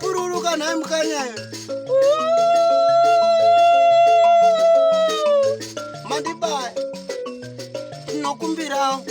Pururuka nhai mukanyayo. Mandibaya. Tinokumbirawo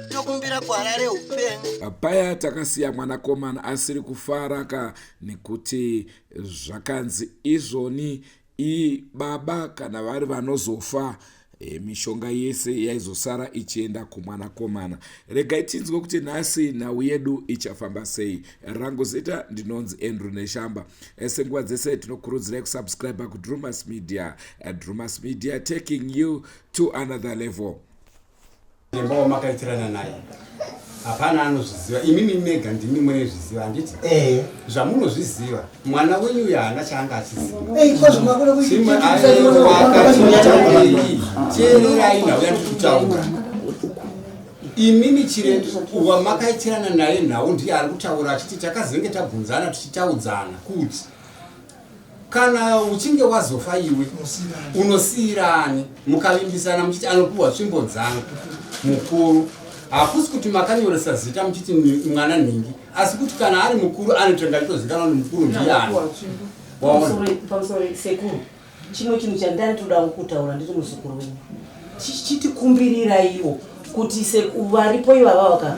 tokumbira gwara reupenyu paya takasiya mwanakomana asiri kufaraka nekuti zvakanzi izvoni I baba kana vari vanozofa e, mishonga yese yaizosara ichienda kumwanakomana regai tinzwe kuti nhasi nhau yedu ichafamba sei rangu zita ndinonzi andrew neshamba e, senguva dzese tinokurudzirai kusubscribe kudrumas media e, drumas media taking you to another level Nemba wamakaitirana naye hapana anozviziva imimi mega ndimi munezviziva handiti eh. zvamunozviziva mwana wenyu uyo haana chaanga achizivacheererai nhau yandikutaura imimi chire wamakaitirana naye nhau ndiye ari kutaura achiti takazenge tabvunzana tichitaudzana kuti Kana uchinge wazofa iwe unosiira ani? Mukavimbisana muchiti anopiwa tsvimbo dzangu mukuru, hakusi kuti makanyoresa zita muchiti mwana nhingi, asi kuti kana ari mukuru anotenga chitozikanwa kuti mukuru ndiani. Pamusori sekuru, chimwe chinhu chandari todawo kutaura ndiri muzukuru wenyu, chitikumbirira iwo kuti varipo ivava vaka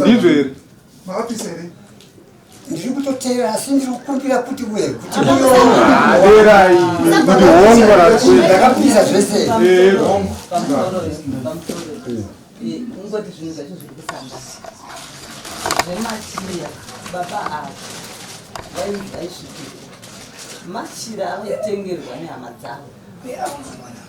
ndizvo here maofisi here ndiri kutoteera asi ndiri kukumbira kuti we kuti muyoerai kuti hongo ndakapisa zvese ungoti zvinhu zvacho zviri kufamba zvematiria baba ava vaisvikira machira avaitengerwa nehama dzavo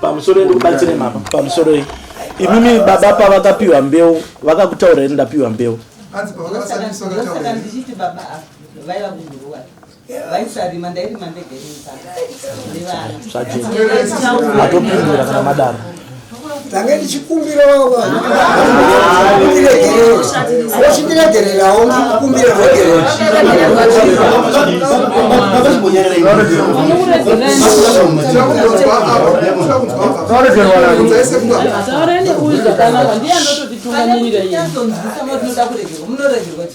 pamusoro ndikubatsire mama pamusoro iyi imimi baba pavakapiwa mbeu vakakutaura ini ndapiwa mbeu zvatopindura kana madaro tange ndichikumbirawo vanhu vachindiregererawo ndikukumbira regerero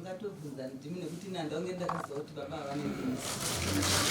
ndatobvunza ndimi nekuti ini handaunge ndakaziva kuti baba havaneaa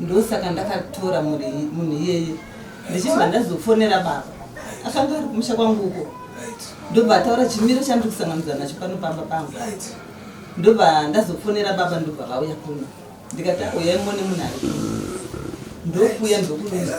ndosaka ndakatora munhu iyeye ndichibva ndazofonera baba akanga ari kumusha kwangu uko ndobva ataura chimiro chandiri kusanganidza nacho pano pamba pangu ndobva ndazofonera baba ndobva vauya kuno ndikati auyai mone munhu ari kuno ndokuya ndokuaa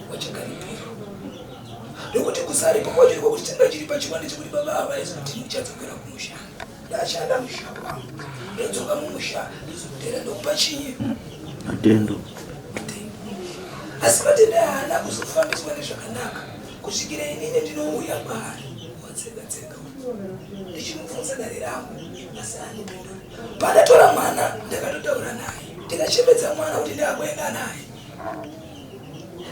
wachigaripiro ndokuti kusari kumoti kwakuti changa chiri pachiwande chekuti baba ava vaizi kuti ndichadzokera kumusha ndashanda musha kwangu ndodzoka mumusha ndizokutera ndokupa chinyi matendo asi matendo haana kuzofambiswa nezvakanaka kusvikira inini ndinouya kwaari watsenga tsenga ndichimubvunza dare rangu asi anipindura pandatora mwana ndakatotaura naye ndikachembedza mwana kuti ndaakuenda naye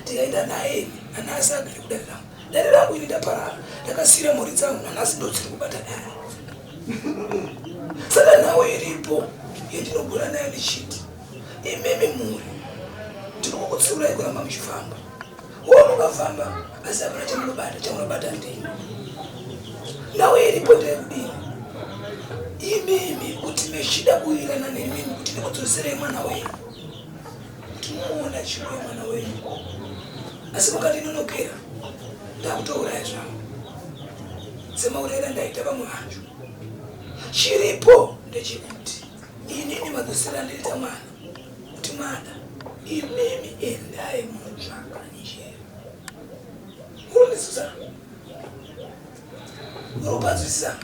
tikaenda naye nanhasi agere kudare rangu dare rangu ini ndaparara ndakasiira mhuri dzangu nanhasi ndodziri kubata dare saka nhau iripo yandinogona nayo ndichiti imimi mhuri ndinokukutsiurai kuramba muchifamba wonokafamba asi apana chamunobata chamunobata ndini nhau iripo ndayekudini imimi kuti mechida kuirana nemimi kuti ndikudzoserei mwana wenyu kuti mwaona chipo yemwana wenyu asi mukati inonokera ndakutouraya zvangu semaurayira ndaita vamwe vanhu chiripo ndechekuti inini madzosera ndoita mwana kuti mwana imimi endai mutsvaka njere urundisuzana Unobazisa.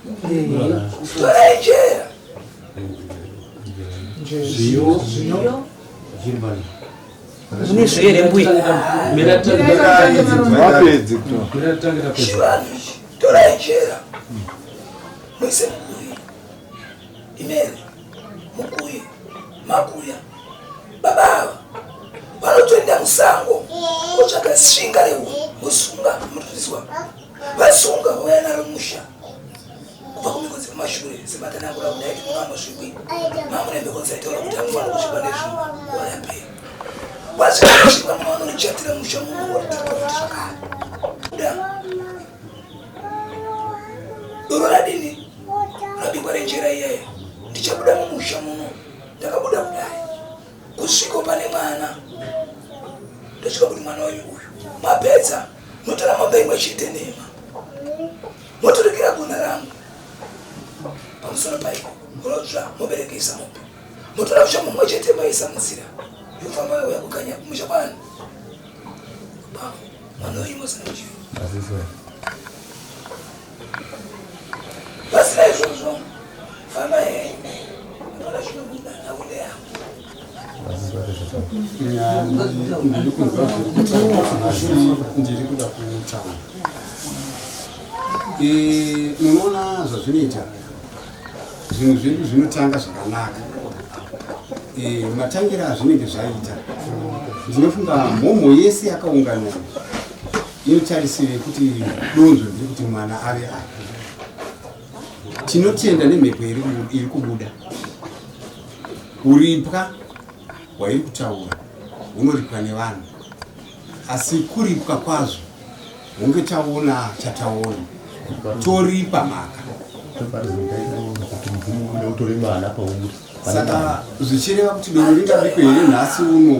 Torai jera. Zviyo. Zviyo. Jimbani. Mune zvere mbuya. Mira tangira. Torai jera. Mwese mbuya. Imene. Mbuya. Makuya. Baba. Vanotoenda musango. Kutsvaga svinga rehu. Musunga. Mutuzwa. vasunga vauya naro musha kubva kumiko dziri mashure sematanangura kudaiti muno anosvikwi mamune mbeko dzaitaura kuti anofanira kusvikwa nezvinhu wayapera wazvikasvikwa muno vanonochatira musha muno watiakuti zvakare da doro radini rabikwa renjera iyeyo ndichabuda mumusha muno ndakabuda kudai kusviko pane mwana ndochiva kuti mwana wenyu uyu mapedza motora mombe imwe chete nhema moturikira gona rangu pamusoro paiko unotsva moberekesa mombe motora kusha mumwe chete maisa munzira yofamba yauya kukanya kumusha kwana mwana wenyu mozana kuchivi Pasina izvozvo famba henyu ndona zvinobuda nakude yangu ndiri kunzwa ndiri kuda kutaura munoona zvazvinoita zvinhu zvedu zvinotanga zvakanaka matangira azvinenge zvaita ndinofunga mhomho yese yakaungana Inotarisiro yekuti donzvo ndiri kuti mwana ave apo. Tinotenda nemhepo iri kubuda. Kuripwa hwairi kutaura hunoripwa nevanhu, asi kuripwa kwazvo hunge taona chataona toripa mhaka saka zvichireva kuti doro ringabikwe here nhasi uno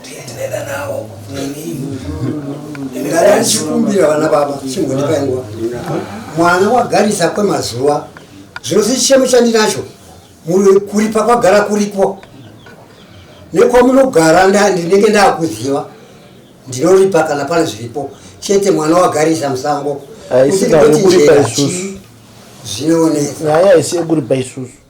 ndiye ndinoenda nawo ndaichikumbira vana baba chimbondipai nguva mwana wagarisa kwemazuva zvino sechichemo chandinacho kuripa kwagara kuripo nekwamunogara ndinenge ndakuziva ndinoripa kana pane zviripo chete mwana wagarisa musango aisingayekuripa isusu zvinonetsa nyaya haisi yekuripa isusu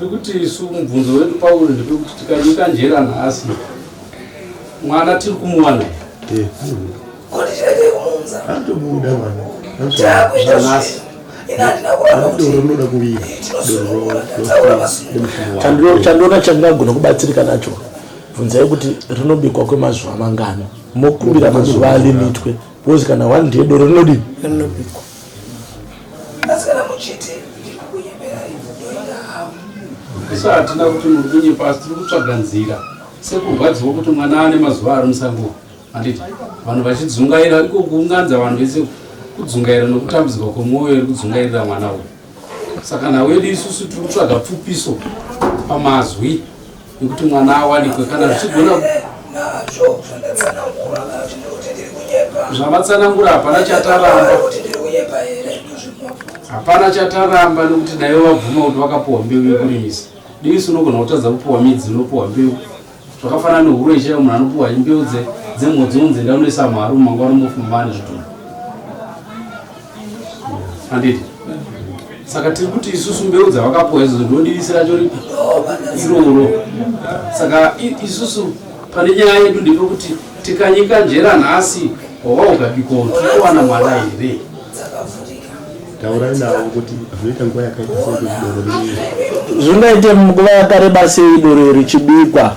Pekuti isu mubvunzo wedu pauri ndepekuti tikanyika njera nhasi mwana tiri kumuwana anotobuda mwana nhasi chandiona chandinagona kubatsirika nacho bvunzai kuti rinobikwa kwemazuva mangani mokuvira mazuva alimitwe bcause kana one ndiye doro rinodii isu hatina kuti muri kunyepa asi tiri kutsvaga nzira sekurwadziwa kuti mwana ane mazuva ari musango handiti vanhu vachidzungaira iko kuunganidza vanhu vese kudzungaira nokutambudzika kwemwoyo iri kudzungairira mwana uyu saka nawedu isusu tiri kutsvaga pfupiso pamazwi yekuti mwana awanikwe kana zvichigona zvamatsanangura hapana chataramba hapana chataramba nekuti dai vabvuma kuti vakapuwa mbeu yekurimisa diisi unogona kutadza kupuwa midzi unopuwa mbeu zvakafanana nehuro ichaiyo munhu anopuwa mbeu dzemhodzi unzi ndaunoisa mharu mangwana mofumani zvitunhu handiti saka tiri kuti isusu mbeu dzavakapuwa idzo ndodivisi racho ripi iroro saka isusu pane nyaya yedu ndepekuti tikanyika njera nhasi hova ukabiko tikuwana mwana here taurai navo kuti zvinoita nguva yakaita sei zvingaite nguva yakareba sei doro richibikwa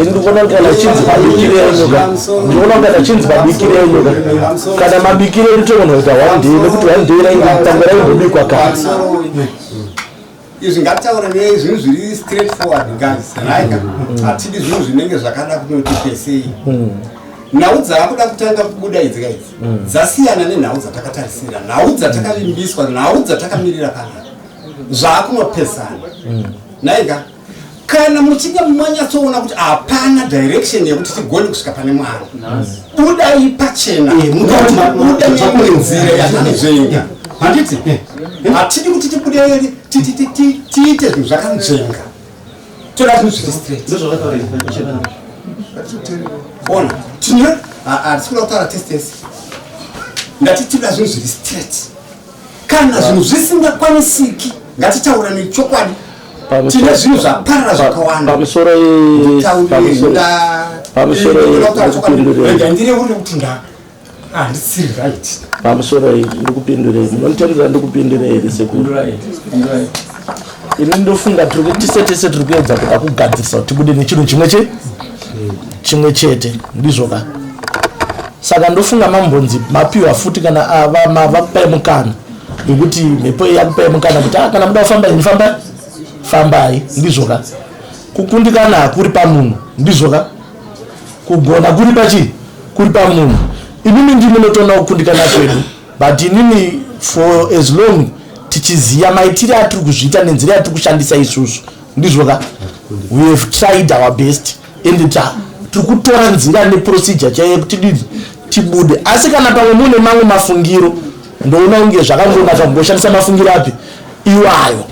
ndikuona kuti kana chinzi mabikire enyuka ndikuona kuti kana chinzi mabikire enyuka kana mabikire edu togona kuita one day nekuti one day rainge tango raimbobikwa kare izvi ngataure ne zvinhu zviri straight forward guys right mm. hatidi zvinhu zvinenge zvakada kunoti pesei mm. nhau dzaakuda kutanga kubuda idzi ka idzi mm. dzasiyana nenhau dzatakatarisira nhau dzatakavimbiswa nhau dzatakamirira panapa zvaakunopesana mm. naiga kana muchinge manyatsoona kuti hapana direction yekuti tigone kusvika pane mwana budai pachena eh, mukabuda nekune nzira yakanzvenga handiti eh, eh. hatidi kuti tibude tiite zvinhu zvakanzvenga toda zvinhu zviri straight ona tine hatisi kuda kutaura testesi ndatitida zvinhu zviri straight kana zvinhu zvisingakwanisiki ngatitaura nechokwadi tine zvinhu zvaparira zvakawanda pamusoro ndandire uri kuti nda handisiri ah, right pamusoro ndikupindurei munonditarira ndikupindurei here sekuru ini ndofunga tiri kuti tise tese tiri kuedza kuda kugadzirisa kuti tibude nechinhu chimwe che chimwe chete ndizvo ka saka ndofunga mambonzi mapiwa futi kana avakupai mukana yekuti mhepo iyi yakupai mukana kuti ah, kana muda kufamba ini famba fambai ndizvo ka kukundikana hakuri pamunhu ndizvo ka kugona kuri pachii kuri pamunhu imimi ndimi notoona kukundikana kwedu but inini for as long tichiziva maitire atiri kuzviita nenzira yatiri kushandisa isusu ndizvo ka we have tried our best and ta tiri kutora nzira neprocedure chaiye kuti dii tibude asi kana pamwe mune mamwe mafungiro ndoona kunge zvakangonaka kungoshandisa mafungiro api iwayo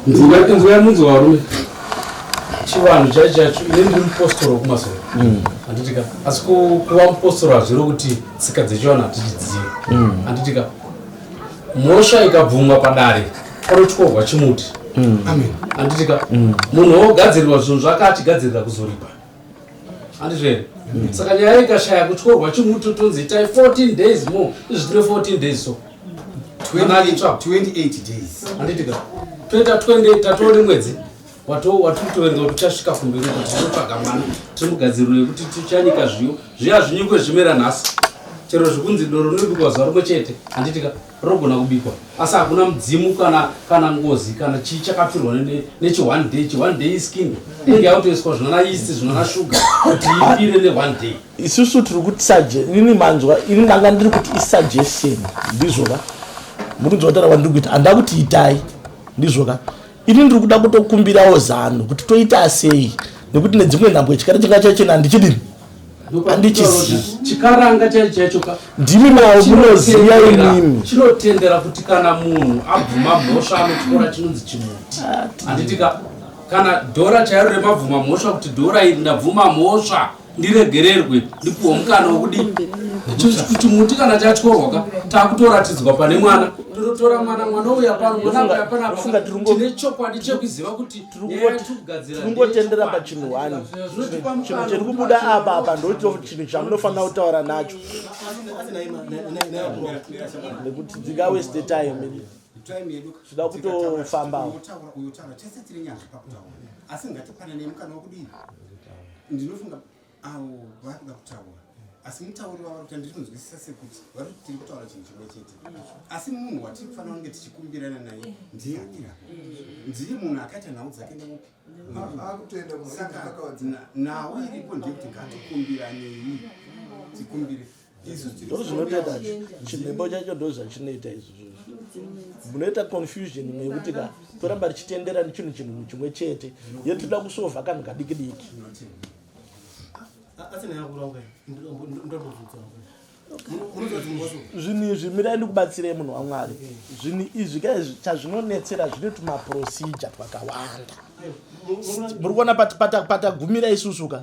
chivanhu chaichacho ine ndiri mupostoro wekumasoro mm. handiti ka asi kuva mupostoro hazviro kuti tsika dzechivanhu hatichidzivi mm. anditika mhosva ikabvumwa padare panotyorwa chimuti mm. amen anditika mm. munhu wogadzirirwa zvinhu zvake achigadzirira kuzoripa andizvo here saka nyaya ikashaya kutyorwa chimuti utonzi itai 14 days more izvi tine 14 days so 28 days anditika toita 28 tatoone mwedzi watoo watiri kutoverenga kuti uchasvika kumberi uko tichitsvaga mwana timugadziriro yekuti tichanyika zviyo zviye hazvinyikwe zvimera nhasi chero zvikunzi doro rinobikwa zuva rimwe chete handitika rinogona kubikwa asi hakuna mudzimu kana kana ngozi kana chii chakapfirwa nechione day chione day iskin inenge yakutoiswa zvinana yeast zvinana shuga kuti ipire neone day isusu tiri kuti sage ini manzwa ini ndanga ndiri kuti isuggestion ndizvoka mukunzwa kuti rava ndiri kuita handida kuti itai ndizvoka ini ndiri kuda kutokumbirawo zano kuti toita sei nekuti nedzimwe nhambo chikara chinga chachena handichidini handichizichikaranga chaicho chaicho ka ndimi nawo munoziva imimi chinotendera kuti kana munhu abvuma mhosva anotyora chinonzi chimuti handitika kana dhora chairo remabvuma mhosva kuti dhora iri ndabvuma mhosva ndiregererwe ndipuhwa mukana wekuti kuti muti kana chatyorwa ka takutoratidzwa pane mwana totora mwana mwana uya pano mwana uya panafunga tine chokwadi chekuziva kuti tirikungotendera pachinhu one chinhu chiri kubuda apa apa ndocho chinhu chamunofanira kutaura nacho nekuti dzika weste time zvida kutofambawo asi ngatipanane mukana wekudii ndinofunga avo vari kuda kutaura asi mutauri wavari kuti ndinonzwisisa sekuti vari kuti tiri kutaura chinhu chimwe chete asi munhu watiri kufanira kunge tichikumbirana naye ndiye akira ndiye munhu akaita nhau dzake neupi nhau iripo ndeyekuti ngatikumbiraneyi tikumbire ndozvinotoita chimhembo chacho ndozvachinoita izvozvo munoita confusion imwe yekuti ka toramba richitendera nechinhu chinhu chimwe chete ye toda kusova kanhu kadiki diki zvinhu izvi mirai ndikubatsirei munhu wamwari zvinhu izvi ka izvi chazvinonetsera zvine tumaprocedure twakawanda muri kuona patagumira isusu ka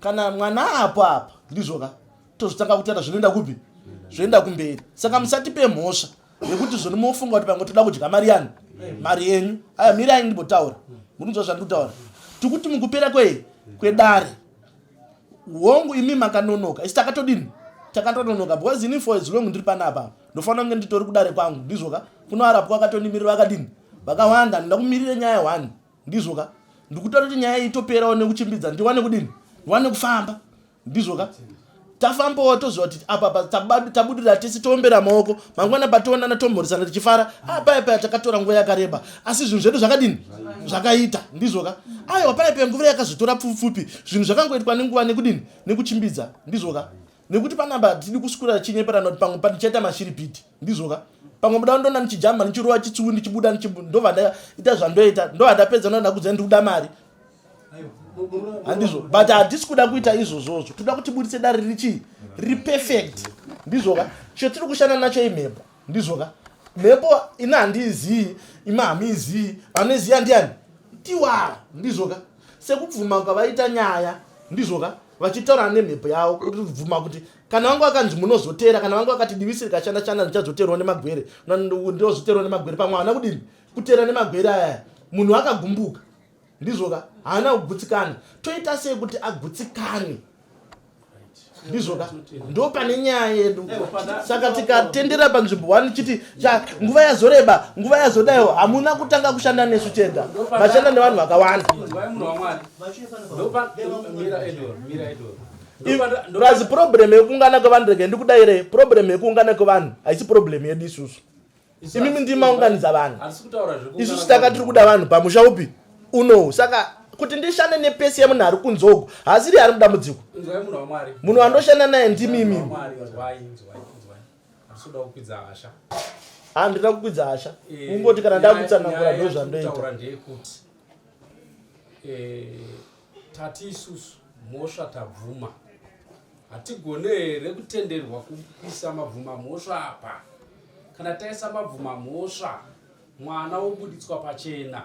kana mwana apo apa ndizvo ka tozotanga kutaura zvinoenda kupi zvoenda kumberi saka musatipe mhosva yekuti zvoni mofunga kuti pamwe toda kudya mari yani mari yenyu aya mirai ndimbotaura murinzwa zvandiri kutaura tikuti mukupera kwe kwedare hongu imi makanonoka isi takatodini takatononoka because ini for as long ndiri pana apa ndofanira kunge nditori kudare kwangu ndizvoka kunoarapwa akatonimirira vakadini vakawanda ndinoda kumirira nyaya one ndizvo ka ndikutoda kuti nyaya itoperawo nekuchimbidza ndiwane kudini ndiwane kufamba ndizvo ka tafambawo toziva kuti apapa tabudirira tese toombera maoko mangwana pationana tomhorisana tichifara apaipaya takatora nguva yakareba asi zvinhu zvedu zvakadini zvakaita ndizvo ka aiwa paipaya nguva yakazotora pfupfupfupi zvinhu zvakangoitwa nenguva nekudini nekuchimbidza ndizvo ka nekuti panapa hatidi kuswera chinyeperana kuti pamwe pandichaita mashiripiti ndizvoka pamwe muda ndona ndichijamba ndichirova chitsuwi ndichibuda ndova ndaita zvandoita ndova ndapedza ndoa ndakudza ndikuda mari handizvo but hatisi kuda kuita izvozvozvo toda kuti buritse dare riri chii riri perfect ndizvoka chotiri kushanda nacho imhepo ndizvo ka mhepo ini handiizii ima hamiizii vanoiziva ndiani tiwa ndizvo ka sekubvuma kwavaita nyaya ndizvo ka vachitaurana nemhepo yavo kuti bvuma kuti kana vangu vakanzi munozoteera kana vangu vakati divisi rikashanda shanda ndichazoteerwa nemagwere ndinozoteerwa nemagwere pamwe havana kudini kuteera nemagwere aya munhu akagumbuka ndizvoka haana kugutsikana toita sei kuti agutsikane ndizvoka ndo pane nyaya yedu saka tikatendera panzvimbo one chiti nguva yazoreba nguva yazodayo hamuna kutanga kushanda nesu chega vashanda nevanhu vakawanda plus problem yekuungana kwevanhu rege ndikudaire problem yekuungana kwevanhu haisi problem yedu isusu imimi ndimi maunganidza vanhu isusu tanga tiri kuda vanhu pamusha upi unowu saka kuti ndishande nepesi yemunhu ari kunzogo hasiri ari mudambudziko munhu wandoshanda naye ndimi imimi handina kukwidza hasha eh, ungoti kana ndakutsanangura ndozvandoita Tati isusu mhosva tabvuma. Hatigone here kutenderwa kuisa mabvuma mhosva apa? Kana taisa mabvuma mhosva mwana wobuditswa pachena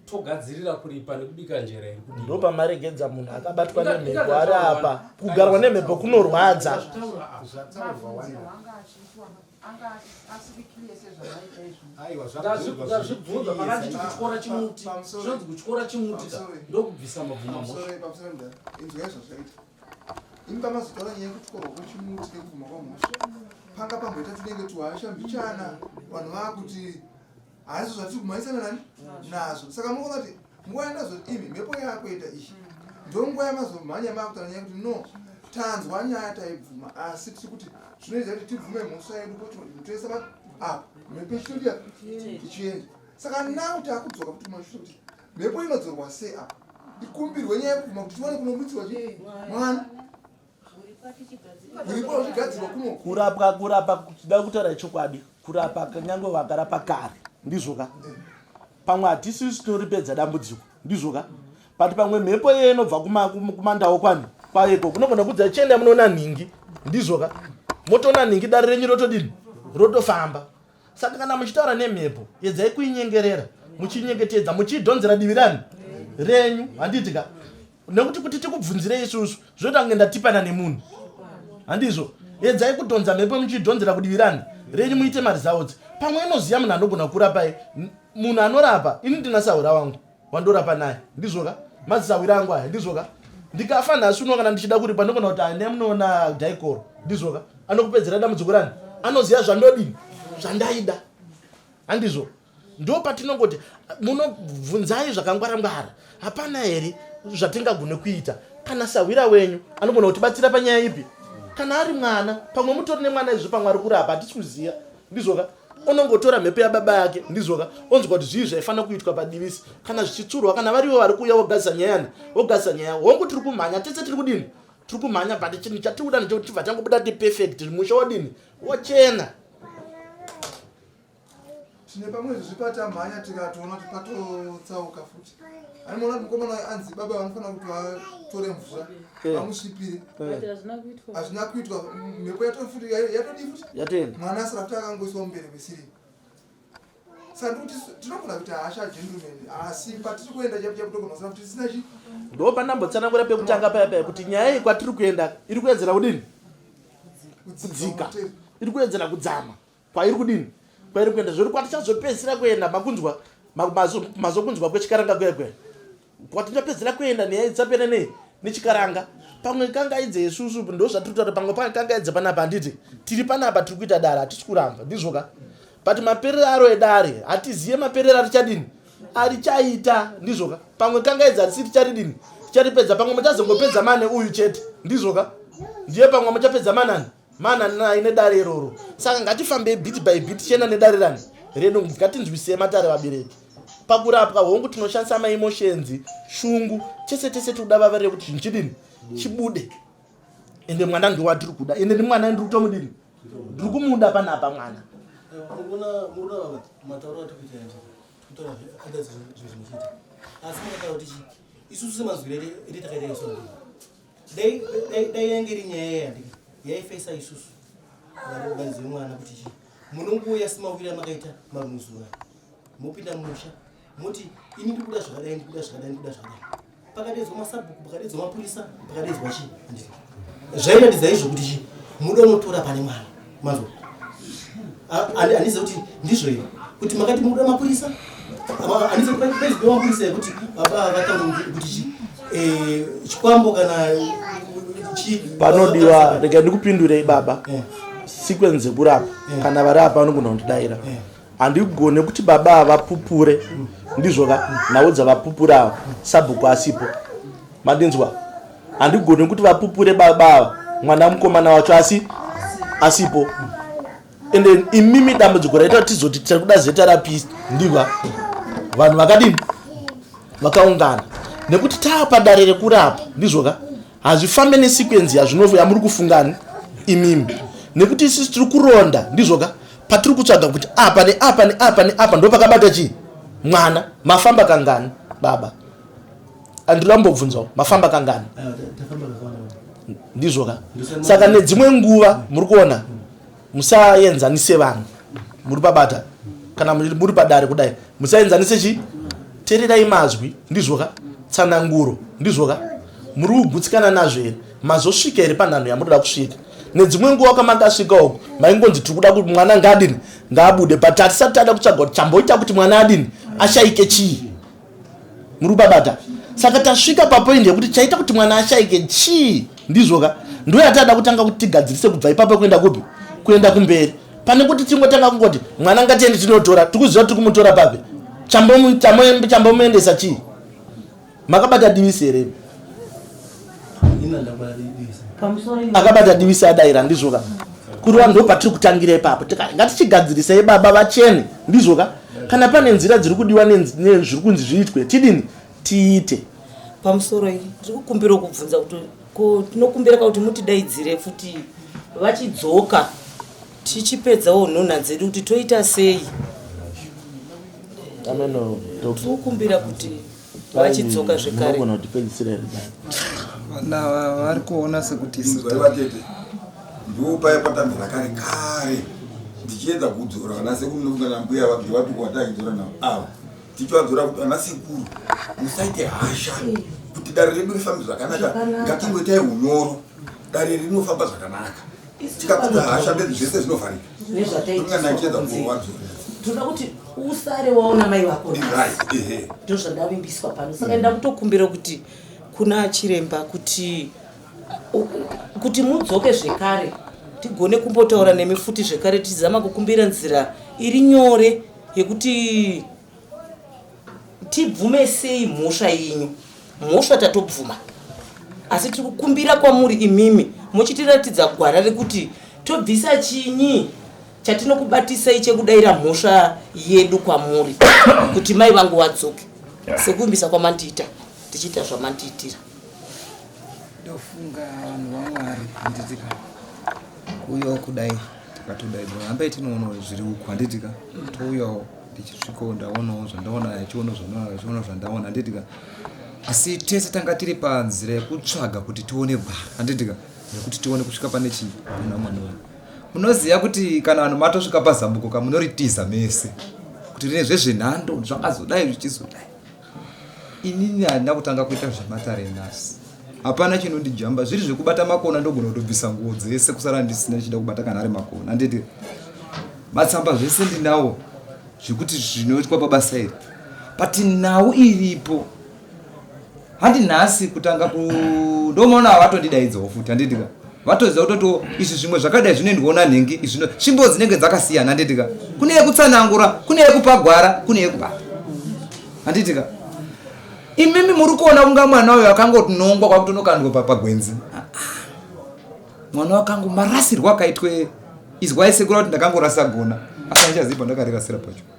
togadzirira kuripa nekubika njera iri kudii? Ndo pamaregedza munhu akabatwa Inga- nemhepo inga- ari apa. Kugarwa nemhepo kunorwadza. Zvataurwa apa. Zvataurwa wani. ndazvibvunza pakanditi kutyora chimuti zvinonzi kutyora chimuti ka ndokubvisa mabvumamoainzwaizvazvaita ini pamazotaura nyaya yekutyorwa kwechimuti nekubvuma kwamhosva panga pamboita tinenge tuhasha mbichana vanhu vaakuti hazvo zvatiri kumhanyisana nani nazvo saka muona kuti nguva yandazoti imi mhepo yakuita izvi ndonguva yamazomhanya makutana nyaya kuti no tanzwa nyaya taibvuma asi tiri kuti zvinoita kuti tibvume mhosva yedu kuti toisa apa ah, mhepo ichitodia ichienda saka nau takudzoka kuti mashua kuti mhepo inodzorwa sei apa ikumbirwe nyaya yekubvuma kuti tiwane kunomutsirwa chii mwana kurapwa kurapa kuda kutaura chokwadi kurapa kanyange vakarapa kare ndizvo ka pamwe hatisisu tinoripedza dambudziko ndizvo ka but pamwe mhepo iye inobva kumandawo kwani kwaiko kunogona kudza chienda munoona nhingi ndizvo ka motoona nhingi dare renyu rotodini rotofamba saka kana muchitaura nemhepo yedzai kuinyengerera muchinyengetedza muchiidhonzera divi rani renyu handiti ka nekuti kuti tikubvunzire isusu zvoita kunge ndatipana nemunhu handizvo edzai kudhonza mhepo muchidhonzera kudivirani renyu muite marizautsi pamwe inoziva munhu anogona kurapai munhu anorapa ini ndina sahwira wangu wandorapa naye ndizvoka mazisahwira angu aya ndizvoka ndikafa nhasi uno kana ndichida kuripa ndogona kuti ane munoona daikoro ndizvoka anokupedzera dambudziko rani anoziva zvandodini zvandaida handizvo ndo patinongoti munobvunzai zvakangwara ngwara hapana here zvatingagone kuita kana sahwira wenyu anogona kutibatsira panyaya ipi kana ari mwana pamwe mutori nemwana izvo pamwe ari kurapa hatisi kuziva ndizvoka onongotora mhepo yababa yake ndizvoka onzwa kuti zvii zvaifanira kuitwa padivisi kana zvichitsurwa kana varivo vari kuuya vogadzisa nyayani vogadzisa nyaya hongu tiri kumhanya tese tiri kudini tiri kumhanya but chinhu chatiri kuda ndechekuti tibva tangobuda tiperfect musha wadini wachena tine pamwe izvozvi patamhanya tikatoona kuti patotsauka futi ani maona kuti mukomana wayo anzi baba vanofanira kuti vatore mvura eh. vamusvipire eh. hazvina kuitwa mhepo yatofuti yatodii futi yatoenda mwana asara kuti akangoiswa mumbere kwesiri sandikuti tinogona kuti hasha gentleman asi patiri kuenda chakutogonasana kuti tisina chi ndo pandambotsanangura pekutanga paya paya kuti nyaya iyi kwatiri kuenda iri kuedzera kudini kudzika iri kuedzera kudzama kwairi kudini kwairi kuenda zviri kwatichazopedzisira kuenda makunzwa mazokunzwa kwechikaranga kuya kuya kwatichapedzisira kuenda nenyaya dzapera nei nechikaranga pamwe kangaidze yesusu ndo zvatiri kutaura pamwe pamwe kangaidze panapa handiti tiri panapa tiri kuita dare hatisi kuramba ndizvoka but maperero aro edare hatizive maperero arichadini arichaita ndizvoka pamwe kangaidze hatisi ticharidini ticharipedza pamwe muchazongopedza mane uyu chete ndizvoka ndiye pamwe muchapedza manani mana nai nedare iroro saka ngatifambei bit by bit tichienda nedare rani reno ngatinzwisei matare vabereki pakurapwa hongu tinoshandisa maemoshenzi shungu tese tese tikuda vava rekuti zvinhu chidini chibude ende mwana ngewatiri kuda ende ndi mwana ndiri kutomudini ndiri kumuda panapa mwana asi makataura kuti isusu semazwirere ende takaita isu dai dai yange iri nyaya yeyandi yaifesa isusu vanzi mwana kuti chii munonguuya simawira makaita maruzuva mopinda musha moti ini ndikuda zvakadai ndikuda zvakadai ndikuda zvakadai pakadedzwa masabhuku pakadedzwa mapurisa pakadedzwa chii zvairatidzai zvokuti chii muda unotora pane mwana mazwa handizive kuti ndizvo here kuti makati mukuda mapurisa handizive kuti paizive mapurisa yekuti baba vatanga kuti chi eh, chikwambo kana panodiwa rega ndikupindurei baba eh. sequence yekurapa eh. kana vari apa vanogona kundidaira Handigone kuti baba ava pupure ndizvo ka nhau dzavapupura ava sabhuku asipo mandinzwa handigone kuti vapupure baba ava mwana mukomana wacho asi asipo and then imimi dambudziko raita kuti tizoti tiri kuda zeta rapist ndiva vanhu vakadini vakaungana nekuti taapadare rekurapa ndizvoka hazvifambe nesekwenzi yazvinovo yamuri kufungani imimi nekuti isusu tiri kuronda ndizvoka patiri kutsvaga kuti apa neapa neapa neapa ndo pakabata chii mwana mafamba kangani baba andirambobvunzawo mafamba kangani ah, ndizvoka saka nedzimwe nguva muri kuona musaenzanise vanhu muri pabata kana muri padare kudai musaenzanise chi tererai mazwi ndizvoka tsananguro ndizvoka muri kugutsikana nazvo here mazosvika here panhanho yamunoda kusvika nedzimwe nguva kwamakasvika uku maingonzi tiri kuda kuti mwana ngaadini ngaabude but hatisati tada kutsvaga kuti chamboita kuti mwana adini ashaike chii muri kubabata saka tasvika papoindi yekuti chaita kuti mwana ashaike chii ndizvo ka ndo yataada kutanga kuti tigadzirise kubva ipapo kuenda kupi kuenda kumberi pane kuti tingotanga kungoti mwana ngatiende tinotora tikuziva tiri kumutora papi chambomuendesa chii makabata divisi here akabata divisa adaira ndizvo ka kurova ndo patiri kutangira ipapo ngatichigadzirisai baba vachene ndizvo ka kana pane nzira dziri kudiwa nezviri kunzi zviitwe tidini tiite pamusoro iyi ndiri kukumbira kubvunza kuti ko tinokumbira ka kuti mutidaidzire futi vachidzoka tichipedzawo nhunha dzedu kuti toita sei tiri kukumbira kuti vachidzoka zvekare vari kuona sekuti ndopaya patanzi rakare kare ndichiedza kudzora vana sekuru nokuda nambuya vabve vapiko vatachidzora navo ava tichivadzora kuti vana sekuru musaite hasha kuti dare redu rifambe zvakanaka ngatingoitai unyoro dare rinofamba zvakanaka tikapedza hasha mberi zvese zvinovharika nezvataitinganacheza kuwadzo toda kuti usare waona mai vako ndo zvandavimbiswa pano saka enda kutokumbira kuti kuna chiremba kuti kuti mudzoke zvekare tigone kumbotaura nemi futi zvekare tichizama kukumbira nzira iri nyore yekuti tibvume sei mhosva yenyu mhosva tatobvuma asi tiri kukumbira kwamuri imimi mochitiratidza gwara rekuti tobvisa chinyi chatinokubatisai chekudaira mhosva yedu kwamuri kuti mai vangu wadzoke sekuvimbisa kwamandiita tichiita zvamandiitira ndofunga vanhu vamwari handitika uyo kudai tikatodai hambai tinoonawo zviri uku handitika touyawo ndichisvikawo ndaonawo zvandaona achiona zvandinaona achiona zvandaona handitika asi tese tanga tiri panzira yekutsvaga kuti tione gwara handitika nekuti tione kusvika pane chii kuna mwana wangu munoziva kuti kana vanhu matosvika pazambuko ka munoritiza mese kuti rine zvezvenhando zvakazodai zvichizodai inini handina kutanga kuita zvematare nhasi hapana chinondijamba zviri zvekubata makona ndogona kutobvisa nguo dzese kusara ndisina ndichida kubata kana ari makona handiti matsamba zvese ndinawo zvekuti zvinoitwa pabasa iri but nhau iripo handi nhasi kutanga ku ndomaona hawatondidaidzavo futi handitika vatoziva kutotiwo izvi zvimwe zvakadai zvinoendwawo nanhingi izvino tsvimbo dzinenge dzakasiyana handitika kune yekutsanangura kune yekupa gwara kune yekupa handitika imimi muri kuona kunga mwana uyo akangotinongwa kwakutonokandwa pagwenzi ah, mwana wakangu marasirwo akaitwe izwai sekura kuti ndakangorasa gona asandichaziva ndakarerasira pacho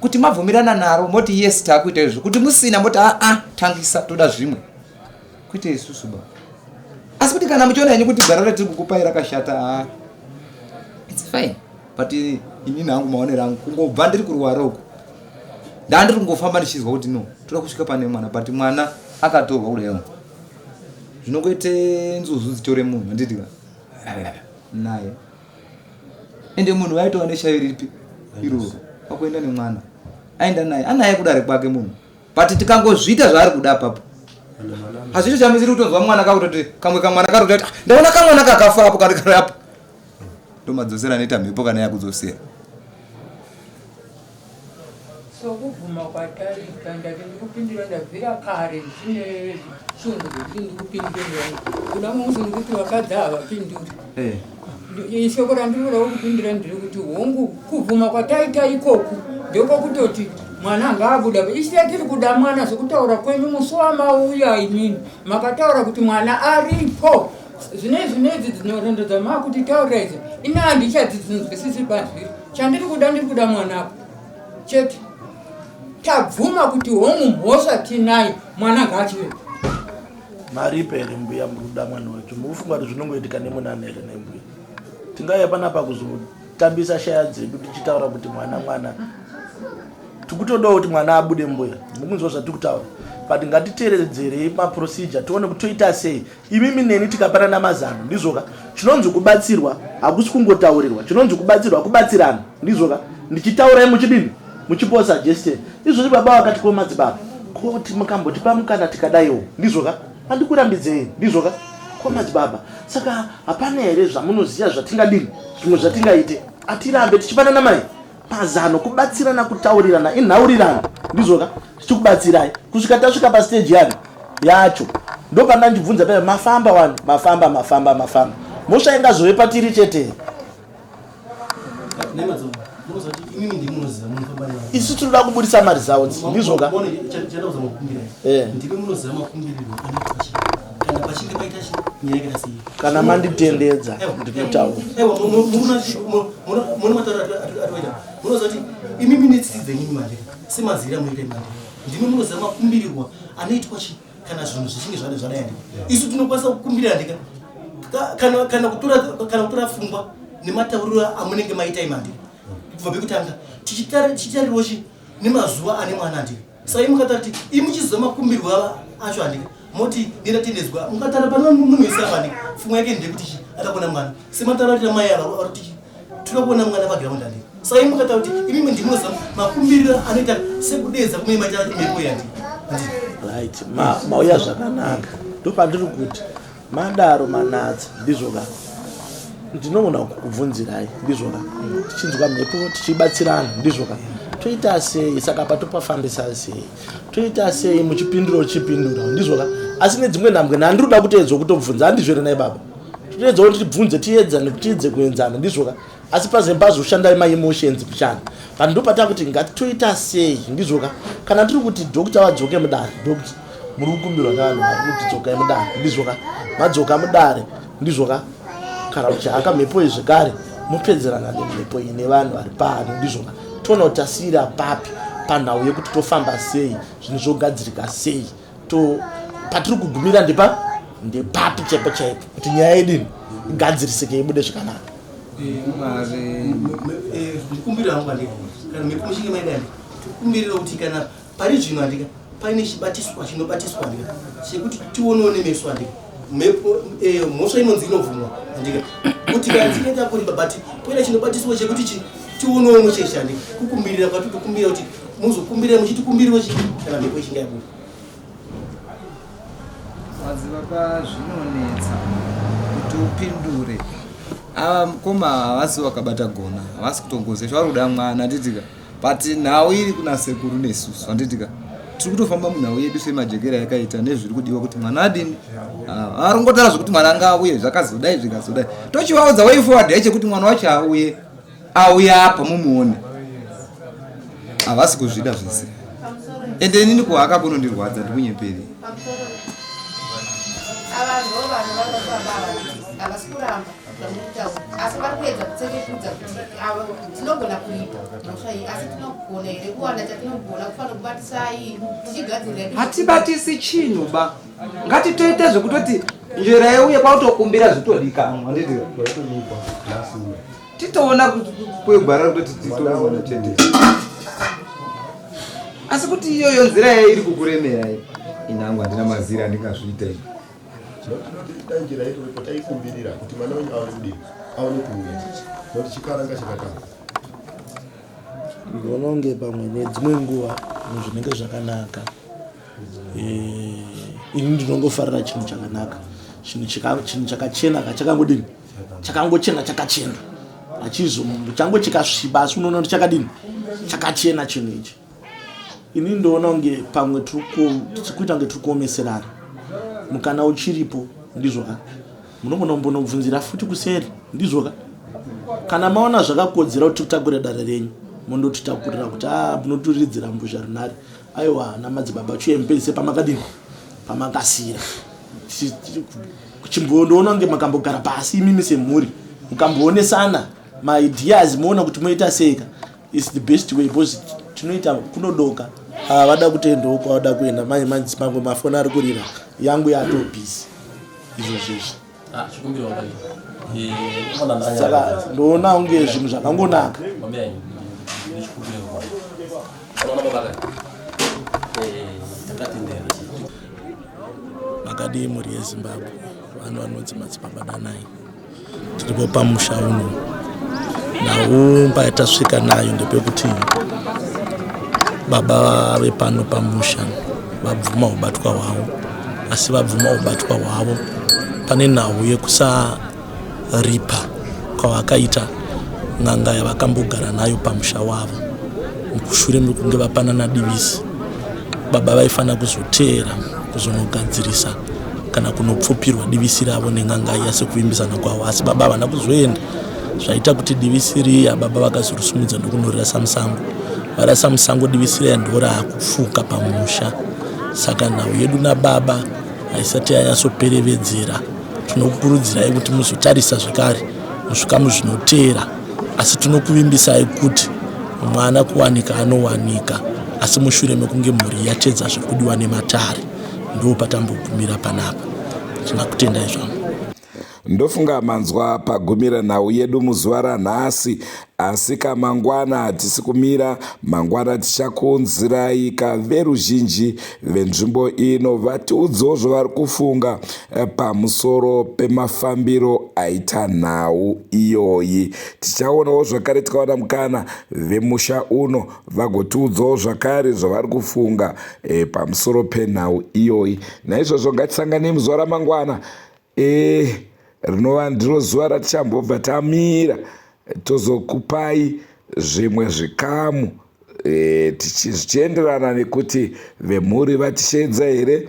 kuti mabvumirana naro moti yes takuita izvo kuti musina moti aa ah, ah, tangisa toda zvimwe kuita isusu ba asi kuti kana muchiona henyu kuti gwara ratiri kukupai rakashata a ah, its fine but inini hangu maonero angu kungobva ndiri kurwara uku ndandiri kungofamba ndichizwa kuti no toda kusvika pane mwana but mwana akatorwa kudaio zvinongoite nzuzu dzitore munhu anditi naye ende munhu waitova neshavi ripi iroro pakuenda nemwana aenda naye anaye kudare kwake munhu but tikangozviita zvaari kuda papo hazvito chamisiri kutonzwa mwana kakutoti kamwe kamwana kari kutoti ah, ndaona kamwana kakafa apo kari kari apo ndomadzosera anoita mhepo kana yakudzosera sokubvuma kwataita ndati ndikupindira ndabvira kare ndine chinhu kuti ndikupindira kuda munzi ndikuti vakadzi havapinduri eh. ishoko randinodawo kupindira ndiri kuti hongu kubvuma kwataita ikoku ndiko kutoti mwana anga abuda isiya tiri kuda mwana zvekutaura kwenyu musi wamauya imini makataura kuti mwana aripo Zvine zvine idzi dzinorondo dzamaa kuti taura idzi ini handichadzi dzinonzwisisi pazviri chandiri kuda ndiri kuda mwana apo chete tabvuma kuti hongu mhosva tinayo mwana ngaachive maripe here mbuya muri kuda mwana wacho mukufunga kuti zvinongoitika nemunana here nembuya tingaiya panapa kuzotambisa shaya dzedu tichitaura kuti mwana mwana tikutodawo kuti mwana abude mbuya mukunzwa zvatiri kutaura but ngatiteeredzerei maprocedure tione kuti toita sei Imimi neni tikapanana mazano ndizvoka chinonzi kubatsirwa hakusi kungotaurirwa chinonzi kubatsirwa kubatsirana ndizvoka ndichitaurai muchidini muchipo suggestion izvozvi baba vakati ko madzibaba ko mukambotipa mukana tikadaiwo ndizvoka andikurambidzei ndizvoka ko madzibaba saka hapana here zvamunoziva zvatingadini zvimwe zvatingaite atirambe tichipanana mai pazano kubatsirana kutaurirana inhaurirano ndizvoka tichikubatsirai kusvika tasvika pasteji yani yacho ndopanda ndibvunza paa mafamba wani mafamba mafamba mafamba mosva ingazove patiri chete isu tinoda kuburitsa maresults ndizvoka eh. kana manditendedza ndinotauramunozoti imi minetsi dzenyini manje semazira muite manje ndimi munoziva makumbirirwa anoitwa chi kana zvinhu zvichinge zvade zvadaya ndika isu tinokwanisa kukumbirira ndika kana kutora fungwa nematauriro amunenge maita imandika kubva pekutanga tichitarirwa chi nemazuva ane mwana ndika Sai mukatati imuchiziva makumbirwo ava acho handika moti ndatendedzwa mukatara pano munhu wese ava handika fungwa yake ndekuti chi atakuona mwana semataratira mai ava vari kuti tiri kuona mwana paground handika sai mukataura kuti imimi ndimoza makumbiriro anoita sekudeedza kumwe maita mhepo yandi right mauya zvakanaka ndopandiri kuti Madaro manatsa ndizvo ka ndinogona kukubvunzirai ndizvo ka tichinzwa mhepo tichibatsirana ndizvo ka toita sei saka patopafambisa sei toita sei muchipindura uchipindura ndizvo ka asi nedzimwe nhambwe nhandiri kuda kuteedzwa kutobvunza handizvo here nai baba toteedzawo tibvunze tiedzane tiedze kuenzana ndizvo ka asi pazve pazoshandai maemotions kushanda but ndopata kuti ngatoita sei ndizvoka kana tiri kuti dokta vadzoke mudare dokta muri kukumbirwa navanhu vari kuti dzokai mudare ndizvoka madzoka mudare ndizvoka kana kuti haka mhepo iyi zvekare mopedzerana nemhepo iyi nevanhu vari pano ndizvoka toona kuti tasiyira papi panhau yekuti tofamba sei zvinhu zvogadzirika sei to patiri kugumira ndipa ndepapi chaipo chaipo kuti nyaya yedini igadzirisike ibude zvakanaka ndikumbira hangu andika kana mhepo muchinge maida andika tikumbirira kuti kana pari zvino andika paine chibatiswa chinobatiswa andika chekuti tionewo nemeso andika mhepo eh, mhosva inonzi inobvumwa andika kuti kanzi inoita kuripa but poita chinobatiswa chekuti chi tionewo mucheche andika kukumbirira kwati kukumbira kuti muzokumbirira muchitikumbiriwo chi kana mhepo ichinge yabuda maziva pazvinonetsa kuti upindure ava mukoma havasi wakabata gona havasi kutongozesva vari kuda mwana titika but nhau iri kuna sekuru nesusu handitika tiri kutofamba munhau yedu semajekera yakaita nezviri kudiwa kuti mwana adini ah, arongotara zvekuti mwana anga auye zvakazodai zvikazodai tochivaudza way forward yaiche kuti mwana wacho auye auye apa mumuone havasi kuzvida zvese ende inini kuhaka kunondirwadza ndikunyeperi avanhu vanhu vanofamba havasi kuramba asi vari kuedza kutsekekudza kuti avo tinogona kuita mhosva iyi asi tinogona here kuwana chatinogona kufanira kubatisai tichigadzirira hatibatisi chinhu ba ngatitoite zvekutoti njera yeuye kwautokumbira zvitodikanwa handiti titoona kwegwara kutoti titoona chete asi kuti iyoyo nzira yairi kukuremera inangu handina mazira andingazviita ii Tinotoita njira iripo taikumbirira kuti mwana wenyu aone kudii, aone kuuya nokuti chikaranga chakatanga. Ndinoona kunge pamwe nedzimwe nguva zvinenge zvakanaka. Eh, ini ndinongofarira chinhu chakanaka, chinhu chakachena ka chakangodini, chakangochena chakachena, hachizo chango chikasviba asi unoona kuti chakadini, chakachena chinhu ichi. Ini ndoona kunge pamwe tichikuita kunge tiri kuomeserana mukana uchiripo ndizvoka munogona kumbonobvunzira futi kuseri ndizvoka kana maona zvakakodzera kuti tikutakurira dare renyu mondotitakurira kuti a ah, munoturidzira mbuzha runare aiwa namadzibaba chuye mupedzise pamakadini pamakasira chimbondoona kunge makambogara pasi imimi semhuri mukamboonesana maideas moona kuti moita seka It's the best way because tinoita kunodoka havada ah, kutendawo kwavada kuenda mai manzi pamwe mafoni ari kurira yangu yato busy izvo zvizvi ah, eh, saka ndoona unge zvinhu zvakangonaka makadii mhuri yezimbabwe vanhu vanonzi madzipamba danai tiripo pamusha uno naumba yatasvika nayo ndepekuti baba vave pano pamusha vabvuma ubatwa hwavo asi vabvuma ubatwa hwavo pane nhau yekusaripa kwavakaita n'anga yavakambogara nayo pamusha wavo mukushure mekunge vapanana divisi baba vaifanira kuzoteera kuzonogadzirisa kana kunopfupirwa divisi ravo nen'anga iya sekuvimbisana kwavo asi baba havana kuzoenda zvaita kuti divisi riya baba vakazorusumudza ndokunorirasa musango varasa musango divisi riya ndoraakufuka pamusha saka nhau yedu nababa haisati yanyatsoperevedzera tinokukurudzirai kuti muzotarisa zvekare muzvikamu zvinoteera asi tinokuvimbisai kuti mwana kuwanika anowanika asi mushure mekunge mhuri yatedza zvekudiwa nematare ndo patambogumira panapa tinakutendai zvangu ndofunga manzwa pagumira nhau yedu muzuva ranhasi asika mangwana hatisi kumira mangwana tichakunziraika veruzhinji venzvimbo ino vatiudzewo zvavari kufunga pamusoro pemafambiro aita nhau iyoyi tichaonawo zvakare tikawana mukana vemusha uno vagotiudzawo zvakare zvavari kufunga e, pamusoro penhau iyoyi naizvozvo ngatisanganei muzuva ramangwana e, rinova ndiro zuva ratichambobva tamira tozokupai zvimwe zvikamu e, zvichienderana nekuti vemhuri vatisheedza here